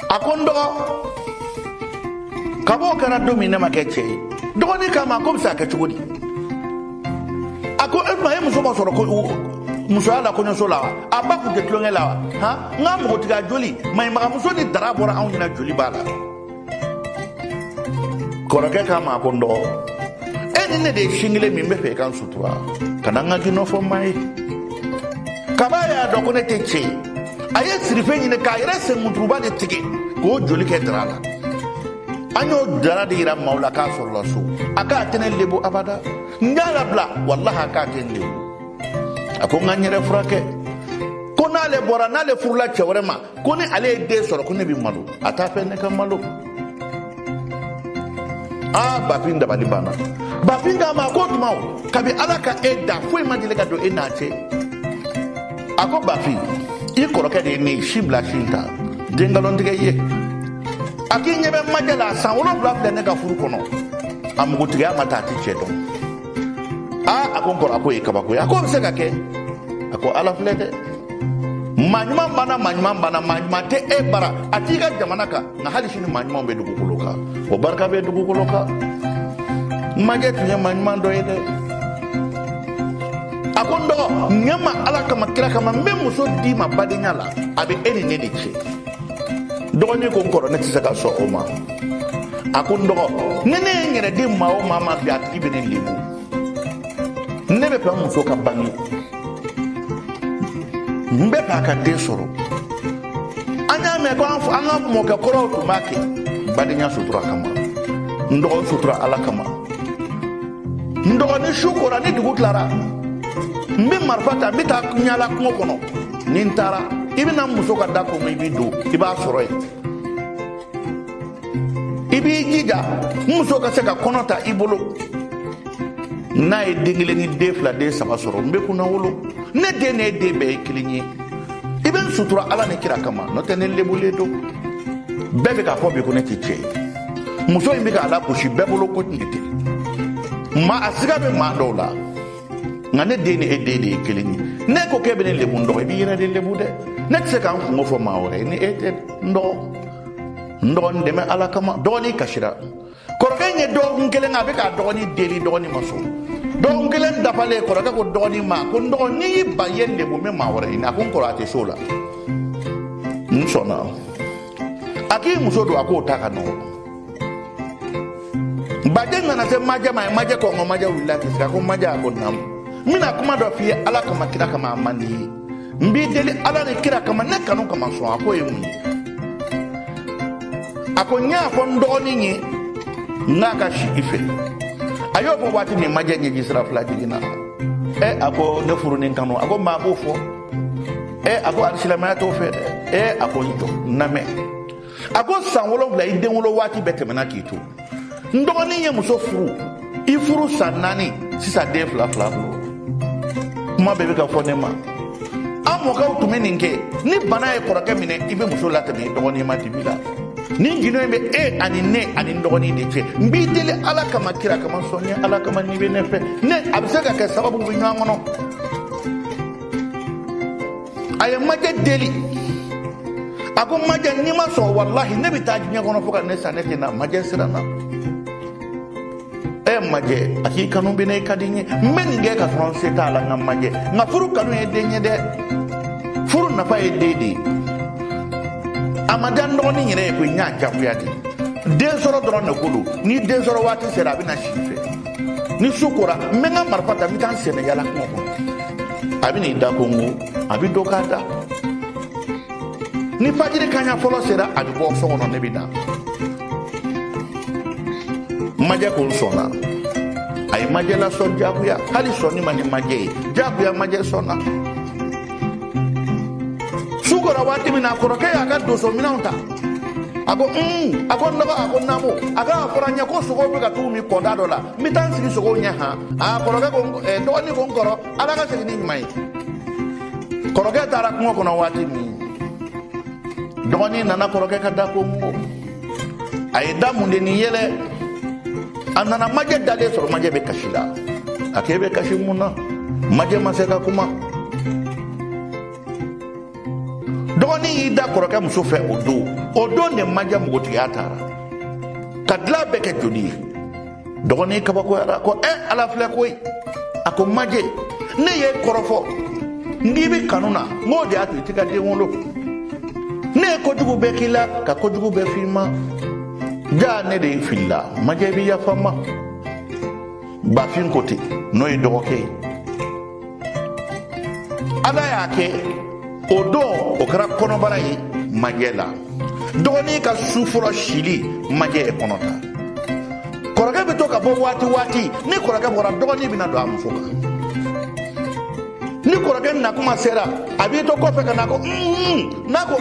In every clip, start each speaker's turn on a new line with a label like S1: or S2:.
S1: a ko n dɔgɔ kab'o kɛra don min ne ma kɛ cɛ ye dɔgɔnin k'a ma k'o bɛ se ka kɛ cogo di a ko e tun ma e muso masɔrɔ ko musoya la kɔɲɔso la wa a ba kun tɛ tulonkɛ la wa han n ka npogotigiya joli maɲimagamuso ni dara bɔra anw ɲɛna joli b'a la kɔrɔkɛ k'a ma ko n dɔgɔ e ni ne de ye sin kelen min n bɛ fɛ i ka n sutura kana n ka gundo fɔ maa ye kab'a y'a dɔn ko ne tɛ cɛ ye a ye sirife ɲini k'a yɛrɛ senkuturuba de tigɛ k'o joli kɛ dara la an y'o dara de yira maaw la k'a sɔrɔla so a k'a tɛ ne lebu abada n y'a labila walahi a k'a tɛ n lebu a ko n ka n yɛrɛ furakɛ ko n'ale bɔra n'ale furula cɛ wɛrɛ ma ko ni ale ye den sɔrɔ ko ne bɛ malo a t'a fɛ ne ka malo a bafin dabali banna bafin k'a ma ko tuma o kabi ala ka e da foyi ma deli ka don e n'a cɛ a ko bafin i kɔrɔkɛ de ye ne si bila si ta den nkalon tigɛ i ye a k'i ɲɛ bɛ majɛ la san wolonwula filɛ ne ka furu kɔnɔ a npogotigiya ma taa a tɛ cɛ dɔn aa a ko n kɔrɔ a k'o ye kabako ye a k'o bɛ se ka kɛ a ko ala filɛ dɛ maa ɲuman banna maa ɲuman banna maa ɲuman tɛ e bara a t'i ka jamana kan nka hali sini maa ɲumanw bɛ dugukolo kan o barika bɛ dugukolo kan majɛ tun ye maa ɲuman dɔ ye dɛ a ko n dɔgɔ ɲɛ n ma ala kama kira kama n bɛ muso d'i ma badenya la a bɛ e ni ne de cɛ dɔgɔnin ko n kɔrɔ ne tɛ se ka sɔn o ma a ko n dɔgɔ ni ne ye n yɛrɛ di maa o maa ma bi a tigi bɛ ne lebu ne bɛ fɛ n muso ka bange n bɛ fɛ a ka den sɔrɔ an y'a mɛn ko an ka mɔkɛ kɔrɔw tun b'a kɛ badenya sutura kama n dɔgɔ n sutura ala kama n dɔgɔ ni su kora ni dugu tilara n bɛ marifa ta n bɛ taa ɲala kungo kɔnɔ ni n taara i bɛ na muso ka da kɔnɔ i bɛ don i b'a sɔrɔ yen i b'i jija n muso ka se ka kɔnɔ ta i bolo n'a ye den kelen ni den fila den saba sɔrɔ n bɛ kunnawolo ne den ni e den bɛɛ ye kelen ye i bɛ n sutura ala ni kira kama n'o tɛ ne lebulen don bɛɛ bɛ k'a fɔ bi ko ne tɛ cɛ ye muso in bɛ ka lagosi bɛɛ bolo ko tun tɛ ma a siga bɛ maa dɔw la nka ne den ni e den de ye kelen ye n'e ko k'e bɛ ne lebu n dɔgɔ i b'i yɛrɛ de lebu dɛ ne tɛ se ka n kunko fɔ maa wɛrɛ ye ni e tɛ n dɔgɔ n dɔgɔ n dɛmɛ ala kama dɔgɔnin kasira kɔrɔkɛ in ye dɔgɔkun kelen kɛ a bɛ k'a dɔgɔnin deli dɔgɔnin ma sɔn dɔgɔkun kelen dafalen kɔrɔkɛ ko dɔgɔnin ma ko n dɔgɔ n'i y'i ban i ye n lebu n bɛ maa wɛrɛ ɲini a ko n kɔrɔ a tɛ s'o la n sɔnna a k'i muso don a k'o ta ka nɔgɔn baden nana se majɛ ma a ye majɛ kɔnkɔn majɛ wulila k'i sigi a ko majɛ a ko naamu n bɛna kuma dɔ f'i ye ala kama kira kama a man di i ye n b'i deli ala ni kira kama ne kanu kama sɔn a ko ye mun ye a ko n y'a fɔ n dɔgɔnin ye n k'a ka si i fɛ a y'o fɔ waati min majɛ ɲɛji sira fila jiginna ɛ a ko ne furunin kanu a ko maa b'o fɔ ɛ a ko alisilamɛya t'o fɛ dɛ ɛ a ko i jɔ n lamɛn a ko san wolonfila i den wolo waati bɛɛ tɛmɛna k'i to n dɔgɔnin ye muso furu i furu san naani sisan den fila filɛ a bolo kuma bɛɛ bɛ ka fɔ ne ma an mɔkɛw tun bɛ nin kɛ ni bana ye kɔrɔkɛ minɛ i bɛ muso latɛmɛ i dɔgɔnin ma dibi la nin gindo in bɛ e ani ne ani n dɔgɔnin de cɛ n b'i deli ala kama kira kama sɔn n ye ala kama n'i bɛ ne fɛ ne a bɛ se ka kɛ sababu bɛ ɲɔgɔn kɔnɔ a ye majɛ deli a ko majɛ n'i ma sɔn walahi ne bɛ taa diɲɛ kɔnɔ fo ka ne sa ne tɛ na majɛ siranna ɛ majɛ a k'i kanu bɛ n na i ka di n ye n bɛ nin kɛ ka sɔrɔ n se t'a la nka majɛ n ka furu kanu ye den ye dɛ furu nafa ye den de ye a ma diya n dɔgɔnin yɛrɛ ye koyi n y'a jagoya de den sɔrɔ dɔrɔn de ko don ni den sɔrɔ waati sera a bɛ na si i fɛ ni su kora n bɛ n ka marifa ta n bɛ taa n senna yaala kungo kɔnɔ a bɛ n'i da kɔnkɔn a bɛ don k'a da ni fajiri kaɲa fɔlɔ sera a bɛ bɔ so kɔnɔ ne bɛ na majɛ ko n sɔnna a ye majɛ lasɔn jagoya hali sɔnni man di majɛ ye jagoya majɛ sɔnna su kora waati min na a kɔrɔkɛ y'a ka donso minɛnw ta a ko un a ko n dɔgɔ a ko naamu a ko a fɔra n ye ko sogow bɛ ka t'u min kɔda dɔ la n bɛ taa n sigi sogow ɲɛ han a kɔrɔkɛ ko dɔgɔnin ko n kɔrɔ ala ka segin ni ɲuman ye kɔrɔkɛ taara kungo kɔnɔ waati min dɔgɔnin nana kɔrɔkɛ ka da kɔnkɔn a ye da mun de ni yɛlɛ a nana majɛ dalen sɔrɔ majɛ bɛ kasi la a k'e bɛ kasi mun na majɛ ma se ka kuma dɔgɔnin y'i da kɔrɔkɛ muso fɛ o don o don de majɛ npogotigiya taara ka dilan bɛɛ kɛ joli ye dɔgɔnin kabakoyara ko ɛ eh, ala filɛ koyi a ko majɛ ne ye kɔrɔfɔ n k'i bɛ kanu na n k'o de y'a to i tɛ ka den wolo ne ye kojugu bɛɛ k'i la ka kojugu bɛɛ f'i ma jaa ne de filila majɛ b'i yafa n ma bafin ko ten n'o ye dɔgɔkɛ ye ala y'a kɛ o don o kɛra kɔnɔbara ye majɛ la dɔgɔnin ka su fɔlɔ sili majɛ ye kɔnɔ ta kɔrɔkɛ bɛ to ka bɔ waati waati ni kɔrɔkɛ bɔra dɔgɔnin bɛna don a muso kan ni kɔrɔkɛ nakuma sera a b'i to kɔfɛ ka na ko n'a ko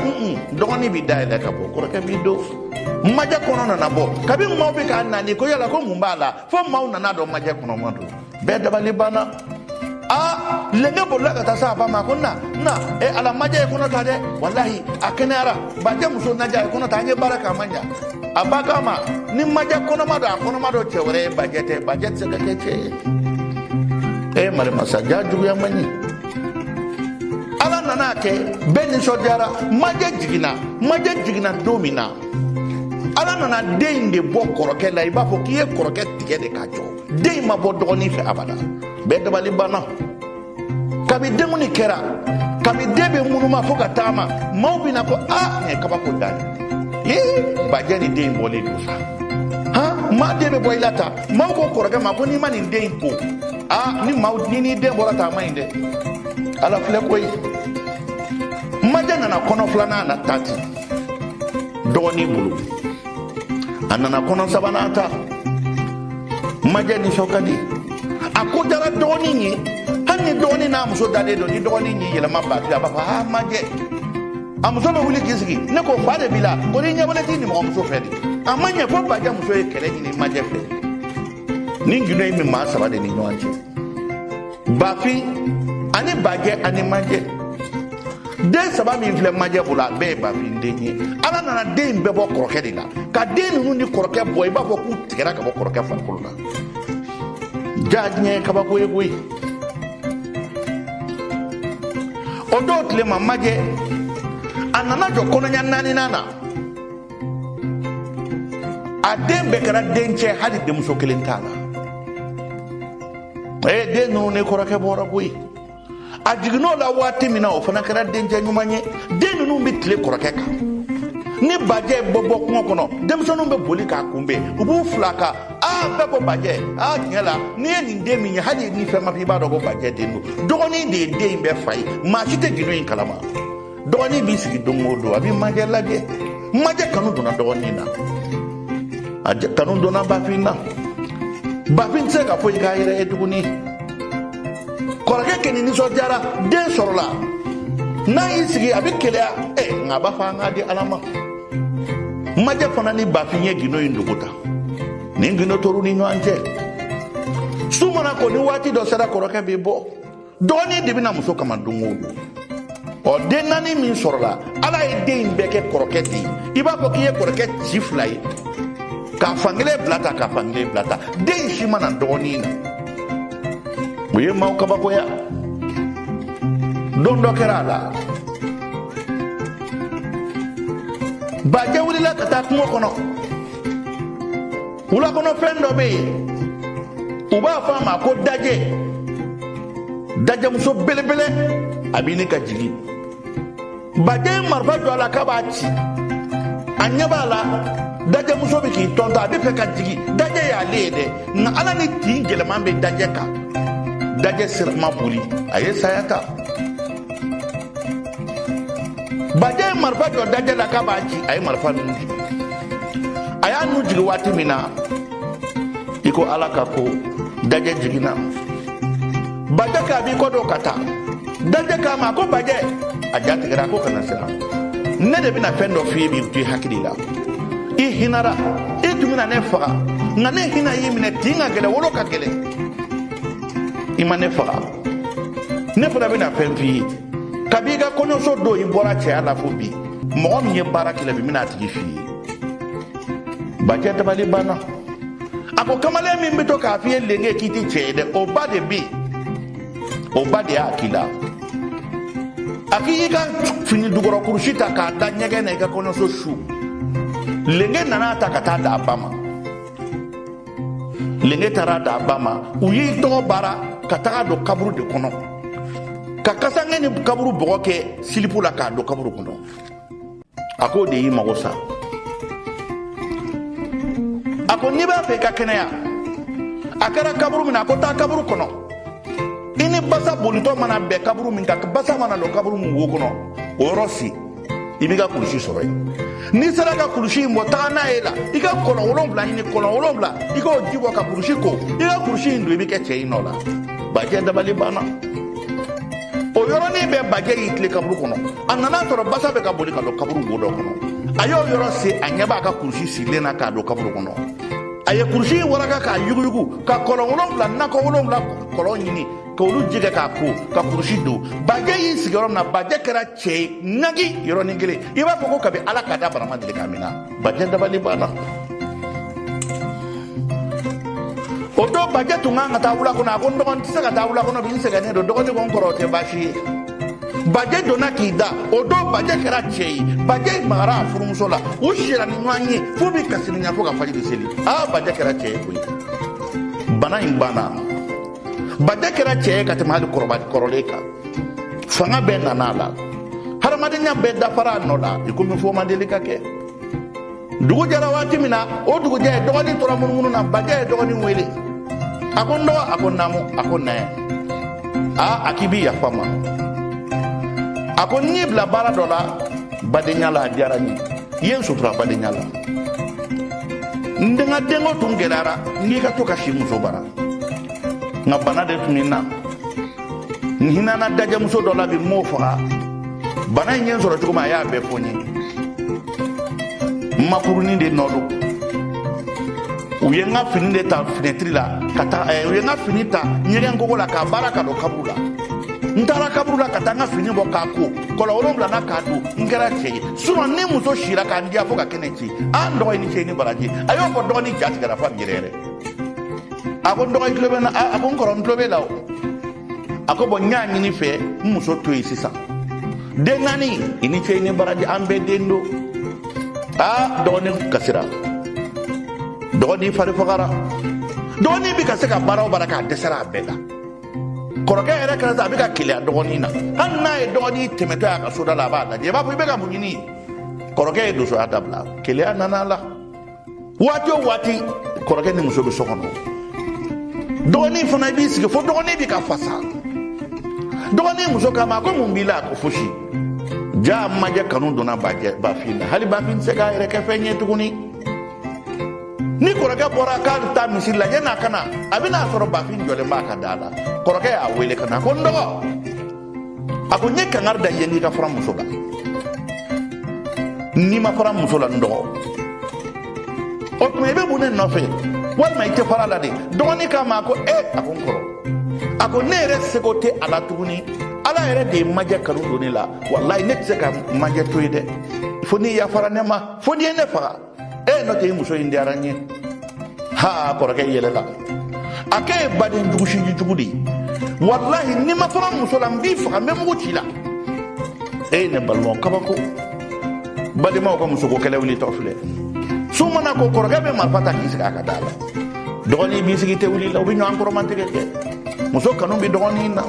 S1: dɔgɔnin bɛ da yɛlɛ ka bɔ kɔrɔkɛ b'i don majɛ kɔnɔ nana bɔ kabi maaw bɛ k'a nani ko yala ko mun b'a la fo maaw nana dɔn majɛ kɔnɔma don bɛɛ dabali banna a lenge bolila ka taa se a ba ma ko na na e ala majɛ ye kɔnɔ ta dɛ walahi a kɛnɛyara bajɛ muso majɛ ye kɔnɔ ta an ye baara kɛ a ma ɲa a ba k'a ma ni majɛ kɔnɔma don a kɔnɔma don cɛ wɛrɛ ye bajɛ tɛ bajɛ tɛ se ka kɛ cɛ ye e marima sa ja juguya man ɲi ala nana kɛ bɛɛ nisɔndiyara majɛ jiginna majɛ jiginna don min na ala nana den in de bɔ kɔrɔkɛ la i b'a fɔ k'i ye kɔrɔkɛ tigɛ de k'a jɔ den in ma bɔ dɔgɔnin fɛ abada bɛɛ dabali banna kabi denkundi kɛra kabi den bɛ ŋunuma fo ka taama maaw bɛ na ko a nin ye kabako dan ye ee bajɛ ni den in bɔlen don sa han maa den bɛ bɔ i la tan maaw ko kɔrɔkɛ ma ko n'i ma nin den in ko a ni maa ni n'i den bɔra tan a man ɲi dɛ ala filɛ koyi majɛ nana kɔnɔ filanan na ta ten dɔgɔnin bolo a nana kɔnɔ sabanan ta majɛ nisɔn ka di a ko diyara dɔgɔnin ye hali ni dɔgɔnin n'a muso dalen don ni dɔgɔnin y'i yɛlɛma bafin a b'a fɔ aa majɛ a muso bɛ wuli k'i sigi ne ko fa de b'i la ko n'i ɲɛ bɔlen t'i nimɔgɔmuso fɛ de a ma ɲɛ fo bajɛ muso ye kɛlɛ ɲini majɛ fɛ nin gindo in bɛ maa saba de ni ɲɔgɔn cɛ bafin ani bajɛ ani majɛ den saba min filɛ majɛ bolo a bɛɛ ye bafin den ye ala nana den in bɛɛ bɔ kɔrɔkɛ de la ka den ninnu ni kɔrɔkɛ bɔ i b'a fɔ k'u tigɛra ka bɔ kɔrɔkɛ farikolo la ja diɲɛ ye kabako ye koyi o dɔw tile ma majɛ a nana jɔ kɔnɔɲa naaninan na a den bɛɛ kɛra dencɛ hali denmuso kelen t'a la ee den ninnu ni kɔrɔkɛ bɔra koyi a jiginn'o la waati min na o fana kɛra dencɛ ɲuman ye den ninnu bɛ tile kɔrɔkɛ kan ni bajɛ bɛ bɔ kungo kɔnɔ denmisɛnninw bɛ boli k'a kunbɛn u b'u fil'a kan aa bɛɛ ko bajɛ aa tiɲɛ la n'i ye nin den min ye hali ni fɛn ma f'i b'a dɔn ko bajɛ den don dɔgɔnin de ye den in bɛɛ fa ye maa si tɛ gindo in kalama dɔgɔnin b'i sigi don o don a bɛ majɛ lajɛ majɛ kanu donna dɔgɔnin na majɛ kanu donna bafin na bafin tɛ se ka foyi k'a yɛrɛ ye tuguni kɔrɔkɛ kɛni nisɔndiyara den sɔrɔ la n'a y'i sigi a bɛ keleya ɛ nka a b'a fɔ an k'a di ala ma majɛ fana ni bafin ye gindo in dogo ta nin gindo tor'u ni ɲɔgɔn cɛ su mana ko ni waati dɔ sera kɔrɔkɛ bɛ bɔ dɔgɔnin de bɛna muso kama don o don ɔ den naani min sɔrɔla ala ye den in bɛɛ kɛ kɔrɔkɛ de ye i b'a fɔ k'i ye kɔrɔkɛ ci fila ye k'a fankelen bila tan k'a fankelen bila tan den si ma na dɔgɔnin na o ye maaw kabakoya don dɔ kɛra a la bajɛ wulila ka taa kungo kɔnɔ wulakɔnɔfɛn dɔ bɛ yen u b'a fɔ a ma ko dajɛ dajɛmuso belebele a bɛ ɲini ka jigin bajɛ ye marifa jɔ a la k'a b'a ci a ɲɛ b'a la dajɛmuso bɛ k'i tɔntɔn a bɛ fɛ ka jigin dajɛ y'ale ye dɛ nka ala ni tin gɛlɛman bɛ dajɛ kan dajɛ sira ma boli a ye saya ta bajɛ ye marifa jɔ dajɛ la k'a b'a ci a ye marifa nin nun jigin a y'a nun jigin waati min na i ko ala ka ko dajɛ jiginna bajɛ k'a b'i kɔ don ka taa dajɛ k'a ma a ko bajɛ a ja tigɛra a ko kana siran ne de bɛna fɛn dɔ f'i ye bi to i hakili la i hinara i tun bɛna ne faga nka ne hinɛ y'i minɛ tin ka gɛlɛn wolo ka gɛlɛn i ma ne faga ne fana bɛna fɛn f'i ye kabi i ka kɔɲɔso don i bɔra cɛya la fo bi mɔgɔ min ye baara k'i la bi bɛna a tigi f'i ye bajɛ dabali banna a ko kamalen min bɛ to k'a f'i ye lenge k'i tɛ cɛ ye dɛ o ba de bɛ o ba de y'a k'i la a k'i y'i ka fini dugɔrɔ kurusi ta k'a da ɲɛgɛn na i ka kɔɲɔso su lenge nan'a ta ka taa d'a ba ma lenge taara d'a ba ma u y'i tɔgɔ baara ka taga a don kaburu de kɔnɔ ka kasange ni kaburu bɔgɔ kɛ silipu la k'a don kaburu kɔnɔ a k'o de y'i mago sa a ko n'i b'a fɛ i ka kɛnɛya a kɛra kaburu min na a ko taa kaburu kɔnɔ i ni basa bolitɔ mana bɛn kaburu min kan basa mana don kaburu min wo kɔnɔ o yɔrɔ sen i b'i ka kulusi sɔrɔ yen n'i sera ka kulusi in bɔ taga n'a ye la i ka kɔlɔn wolonwula ɲini kɔlɔn wolonwula i k'o ji bɔ ka kulusi ko i ka kulusi in don i bɛ kɛ cɛ y'i nɔ la bajɛ dabali banna o yɔrɔnin bɛɛ bajɛ y'i tilen kaburu kɔnɔ a nana sɔrɔ basa bɛ ka boli ka don kaburu wo dɔ kɔnɔ a y'o yɔrɔ sen a ɲɛ b'a ka kulusi sirilen na k'a don kaburu kɔnɔ a ye kulusi in waraka k'a yuguyugu ka kɔlɔn wolonwula nakɔ wolonwula kɔlɔn ɲini k'olu ji kɛ k'a ko ka kulusi don bajɛ y'i sigiyɔrɔ min na bajɛ kɛra cɛ ye nagi yɔrɔnin kelen i b'a fɔ ko kabi ala k'a da bana ma deli k'a mina bajɛ dabali banna o don bajɛ tun kan ka taa wula kɔnɔ a ko n dɔgɔnin tɛ se ka taa wula kɔnɔ bi n sɛgɛnnen don dɔgɔnin ko n kɔrɔ o tɛ baasi ye bajɛ donna k'i da o don bajɛ kɛra cɛ ye bajɛ magara a furumuso la u sira ni ɲɔgɔn ye f'u bɛ kasirinya fo ka fajiri seli aa bajɛ kɛra cɛ ye koyi bana in banna bajɛ kɛra cɛ ye ka tɛmɛ hali kɔrɔlen kan fanga bɛɛ nana a la hadamadenya bɛɛ dafara a nɔ la i komi foyi ma deli ka kɛ dugu jɛra waati min na o dugujɛ dɔgɔnin tora munumunu na bajɛ ye dɔgɔnin wele a ko n dɔgɔ a ko naamu a ko na yan a k'i bi yafa n ma a ko n y'i bila baara dɔ la badenya la a diyara n ye i ye n sutura badenya la ne ka denko tun gɛlɛyara n k'i ka to ka si n muso bara nka bana de tun bɛ n na n hinana dajɛmuso dɔ la bi n m'o faga bana in ye n sɔrɔ cogo min a y'a bɛɛ fɔ n ye n makurunin de nɔ don u ye n ka fini de ta finɛtiri la ka taa eh, u ye n ka fini ta ɲɛgɛn kogo la k'a baara ka don kaburu la n taara kaburu la ka taa n ka fini bɔ k'a ko kɔlɔn wolonwula na k'a don n kɛra cɛ ye surɔ n ni muso sira ka n diya fo ka kɛnɛ ci a n dɔgɔ i ni ce i ni baraji a y'o fɔ dɔgɔni ja tigɛra f'a bɛ yɛrɛ yɛrɛ a ko n dɔgɔ i tulo bɛ n na a ko n kɔrɔ n tulo b'i la o a ko bɔn n y'a ɲini i fɛ n muso to yen sisan den naani i ni ce i ni baraji an bɛɛ den don aa dɔgɔnin kasira dɔgɔnin fari fagara dɔgɔnin bɛ ka se ka baara o baara kɛ a dɛsɛra a bɛɛ la kɔrɔkɛ yɛrɛ kɛra sa a bɛ ka keleya dɔgɔnin na hali n'a ye dɔgɔnin tɛmɛtɔ y'a ka soda la a b'a lajɛ i b'a fɔ i bɛ ka mun ɲini kɔrɔkɛ ye donsoya dabila keleya nana a la waati o waati kɔrɔkɛ ni muso bɛ so kɔnɔ dɔgɔnin fana i b'i sigi fo dɔgɔnin bɛ ka fasa dɔgɔnin muso k'a ma ko mun b'i la a ko fosi jaa majɛ kanu donna bajɛ bafin na hali bafin tɛ se k'a yɛrɛ kɛ fɛn ye tuguni ni kɔrɔkɛ bɔra k'a bɛ taa misiri la yan'a ka na a bɛna a sɔrɔ bafin jɔlen b'a ka da la kɔrɔkɛ y'a wele ka na ko n dɔgɔ a ko n ye kangari da i ye n k'i ka fara n muso la n'i ma fara n muso la n dɔgɔ o tuma i bɛ mun de nɔfɛ walima i tɛ fara a la de dɔgɔnin k'a ma a ko e a ko n kɔrɔ a ko ne yɛrɛ seko tɛ a la tuguni ala yɛrɛ de ye majɛ kanu don ne la walayi ne tɛ se ka majɛ to yen dɛ fo n'i yafara ne ma fo n'i ye ne faga e n nɔ tɛ muso in diyara n ye ha kɔrɔkɛ yɛlɛla a k'e ye baden jugu sinji jugu de ye walahi n'i ma fara n muso la n b'i faga n bɛ mugu ci i la e ne balimaw kabako badenmaw ka musoko kɛlɛ wulitɔ filɛ su mana ko kɔrɔkɛ bɛ marifa ta k'i sigi a ka da la dɔgɔnin b'i sigi te wuli la u bɛ ɲɔgɔn kɔrɔmatigɛ kɛ muso kanu bɛ dɔgɔnin na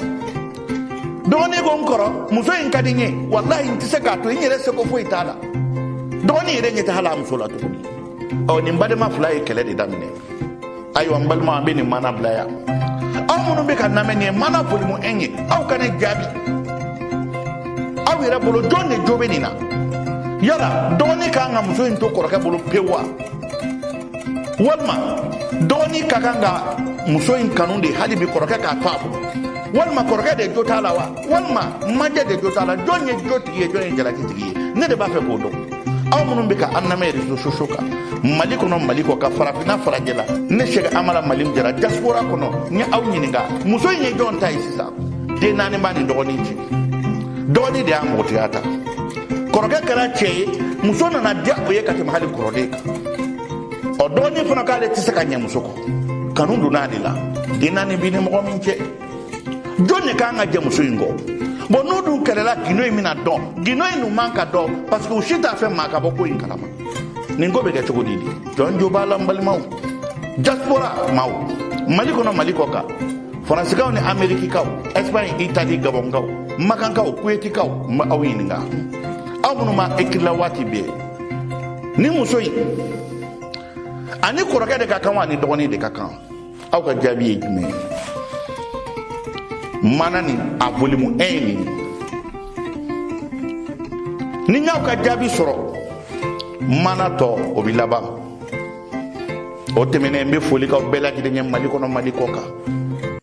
S1: dɔgɔnin ko n kɔrɔ muso in ka di n ye walahi n tɛ se k'a to n yɛrɛ seko foyi t'a la dɔgɔnin yɛrɛ ɲɛ tɛ hali a muso la tuguni ɔ nin badenma fila ye kɛlɛ de daminɛ ayiwa n balima an bɛ nin maana bila yan aw minnu bɛ ka an lamɛn nin ye maana volume un ye aw ka ne jaabi aw yɛrɛ bolo jɔn de jo bɛ nin na yala dɔgɔnin ka kan ka muso in to kɔrɔkɛ bolo pewu wa walima dɔgɔnin ka kan ka muso in kanu de hali bi kɔrɔkɛ k'a to a bolo walima kɔrɔkɛ de jo t'a la wa walima majɛ de jo t'a la jɔn ye jo tigi ye jɔn ye jalaki tigi ye ne de b'a fɛ k'o dɔn aw minnu bɛ ka an lamɛn réseaux sociaux kan mali kɔnɔ mali kɔ kan farafinna farajɛla ne sɛki amala mali jara diaspora kɔnɔ n ye aw ɲininka muso in ye jɔn ta ye sisan den naani b'a ni dɔgɔnin cɛ dɔgɔnin de y'a npogotigiya ta kɔrɔkɛ kɛra cɛ ye muso nana diya o ye ka tɛmɛ hali kɔrɔlen kan ɔ dɔgɔnin fana k'ale tɛ se ka ɲɛ muso kɔ kanu donna ale la den naani b'i ni mɔgɔ min cɛ jɔn de ka kan ka jɛn muso in kɔ bɔn n'o dun kɛlɛla gindo in bɛna dɔn gindo in dun man ka dɔn parce que u si t'a fɛ maa ka bɔ ko in kalama nin ko bɛ kɛ cogo di de jɔn jo b'a la n balimaw diaspora maaw mali kɔnɔ mali kɔ kan faransikaw ni amerikikaw espagne itali gabɔnkaw makankaw kuwetikaw n bɛ aw ɲininka aw minnu ma ekirila waati bɛɛ nin muso in a ni kɔrɔkɛ de ka kan wa a ni dɔgɔnin de ka kan aw ka jaabi ye jumɛn ye maana nin a volume un ye nin ni n y'aw ka jaabi sɔrɔ maana tɔ o bɛ laban o tɛmɛnen n bɛ foli k'aw bɛɛ lajɛlen ye mali kɔnɔ mali kɔ kan